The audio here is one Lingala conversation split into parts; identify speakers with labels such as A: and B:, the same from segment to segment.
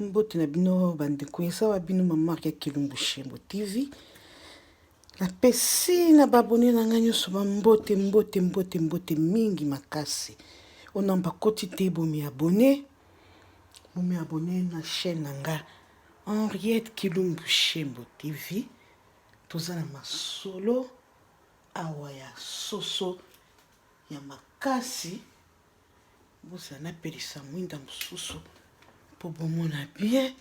A: mbote na bino bandeko eza wa bino mamarke ya kilumbu shembo tv napesi na babone na ngai nyonso bambote mbote mbote mbote mingi makasi ona bakoti te bomi abone bomi abone na chaîne na ngai henriette kilumbu shembo tv toza na masolo awa ya soso ya makasi bozala napelisa mwinda mosusu mpo bomona bien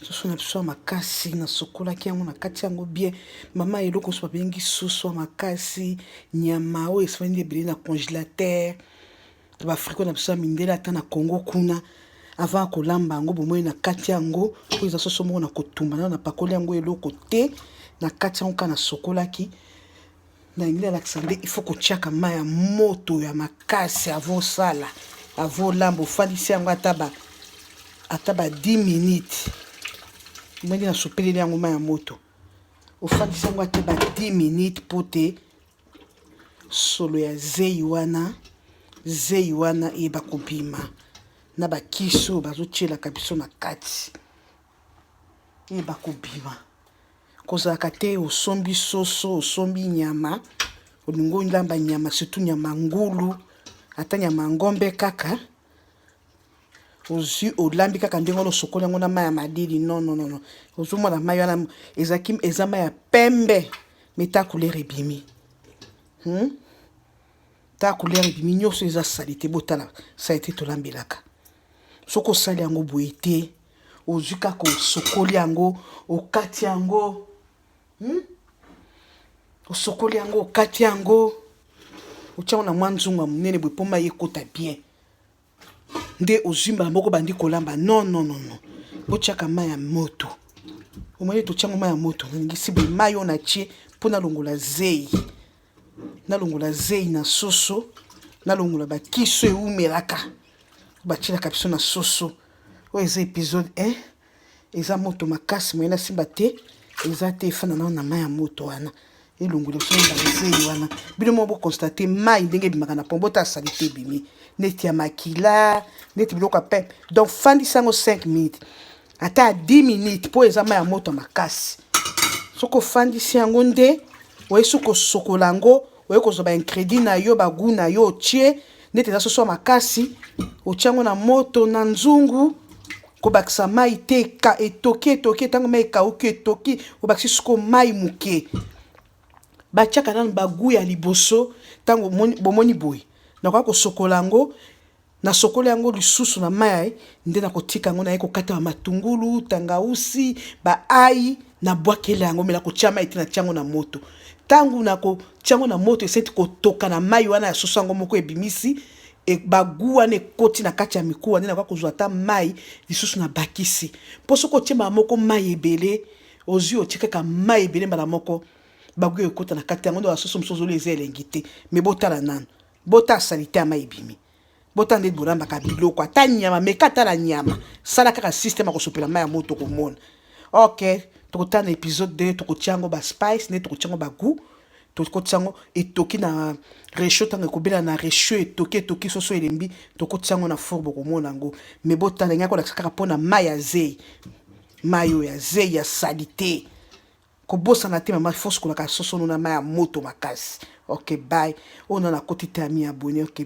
A: soso na biso ya makasi nasukolaki yango na kati yango bien mama eloko mosusu babengi soso ya makasi nyama oyo esifandi ebele na congélateur baafriko na biso ya mindele ata na congo kuna avant ya kolamba yango bomoi na kati yango oyo eza soso moko na kotumba nayo napakoli yango eloko te na kati yango kaka nasukolaki Na lingi nalakisa nde il faut kotiaka mai ya moto ya makasi avo osala avo olamba ofandisi yango ata ba ata ba 10 minutes ndenge nasopeleli yango mai ya moto ofandisi yango ata ba 10 minutes mpo te solo ya zeyi wana zeyi wana eyeba kobima na bakisi oyo bazotyelaka biso na kati eyeba kobima Kozalaka te osombi soso, osombi nyama, olingi olamba nyama, surtout nyama ngulu, ata nyama ngombe kaka, ozwi olambi kaka ndenge wana osokoli yango na mai ya malili. Non, non, non, non. Ozomona mai wana ezalaki eza mai ya pembe, mais ta couleur ebimi. Hmm? Ta couleur ebimi nyonso eza salite, botala salite tolambelaka. Soki osali yango boye te, ozwi kaka osokoli yango okati yango hmm? osokoli yango okati yango otya yango na mwa nzungu ya monene boye mpo mai ekota bien nde ozwi mbala moko bandi kolamba non non non non botyaka mai ya moto omoni totyango mai ya moto nalingisi boye mai oyo natye mpo nalongola zei nalongola zeyi na soso nalongola bakiso ewumelaka batyelaka biso na soso oyo eza episode 1 eza moto makasi moye nasimba te eza te efanda nao na mai ya moto wana elongola biso na bazeyi wana bino moko bokonstate mai ndenge ebimaka na pombo ta asali te ebimi neti ya makila neti biloko ya pempe donc fandisa yango 5 minutes ata ya 10 minutes mpo eza mai ya moto makasi soki ofandisi yango nde oye soki kosokola yango oye kozwa baincrédit na yo bagu na yo otie neti eza soso ya makasi otie yango na moto na nzungu kobakisa mai te ka etoki etoki ntango mai ekauki etoki obakisi soko mai moke batiaka nano bagu ya liboso ntango bomoni boye nakoya kosokola yango Nasokoli yango lisusu na mayi nde nakotika yango naye kokata ba matungulu, tangausi, ba ayi na bwakela yango mais nakotia mayi te natia yango na moto. Tangu nakotia yango na moto esenti kotoka na mayi wana ya soso yango moko ebimisi ba gout wana ekoti na kati ya mikuwa nde nakoya kozwa ata mayi lisusu na bakisi. Po soki otie mbala moko mayi ebele ozui otie kaka mayi ebele mbala moko ba gout ekokota na kati yango nde ba soso mosusu ozolia eza elengi te mais botala nanu. bota salite ama ebimi bota ndeti bolambaka biloko ata nyama meka ata la nyama sala kaka systeme akosopela mai ya moto tokomona ok tokotala na episode 2 tokotia yango baspice nde tokotia yango bagout tokotisa yango etoki na rechaud ntango ekobela na rechaud etoki etoki soso elembi tokotisa yango na four bokomona yango me botala ngai kolakisa kaka mpo na mai ya zei mai oyo ya zei ya salite kobosana te mama fo sukolaka soso no na mai ya moto makasi ok bye oyo nana koti te ami abone ok